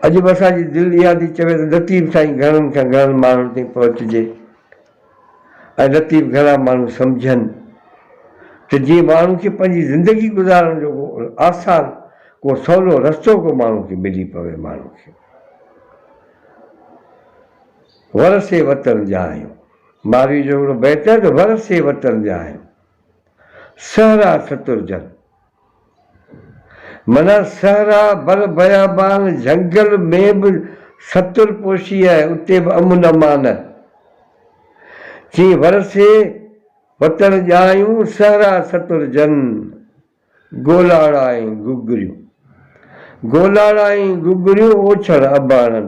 اڄ به اسان جي دل اها ٿي چوي ته لطيف سائين گهڻن کان گهڻن ماڻهن تائين پهچجي ۽ لطيف گهڻا ماڻهو سمجهن ته جيئن ماڻهو کي پنهنجي زندگي گذارڻ جو ڪو آسان ڪو سولو رستو ڪو ماڻهو کي ملي پوي ماڻهو کي ورسي وطن جا آهيون ماروي جو هڪڙو بيت آهي ته ورسي وطن جا آهيون سهرا سترجن. منها صحرا، بر بيابان، جهنگل ۾ به ستر پوشي آهي، اتي به امن امان آهي. چين ورسي وتڻ ڄايون، صحرا سترجن، گولاڙا ۽ گگريون. گولاڙا ۽ گگريون اوڇڻ اباڻن.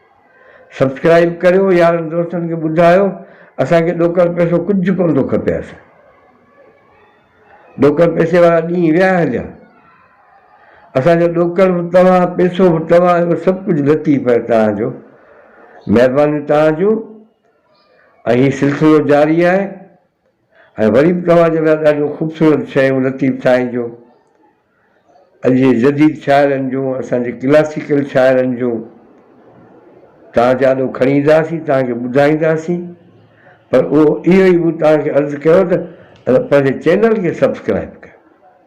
سبسڪرائيب ڪريو يارن دوستن کي ٻڌايو اسان کي ڏوڪر پئسو ڪجهه ڪونه ٿو کپي اسان ڏوڪر پئسي وارا ڏينهن ويا هليا اسان جو ڏوڪر به توهان پئسو به توهان جو سڀ ڪجهه لطيف آهي توهان جو مهربانيون توهان جون ۽ هي سلسلو جاري آهي ۽ وري به توهان جي لاء ڏاڍيون خوبصورت شاعريون لطيف سائين جون، اڄ جي جديد شاعرن جون، اسان جي ڪلاسيڪل شاعرن جون توهان جي آڏو کڻي اينداسين، توهان کي ٻڌائينداسين، پر اهو اهو ئي مون توهان کي عرض ڪيو ته پنهنجي چينل کي سبسڪرائيب ڪيو.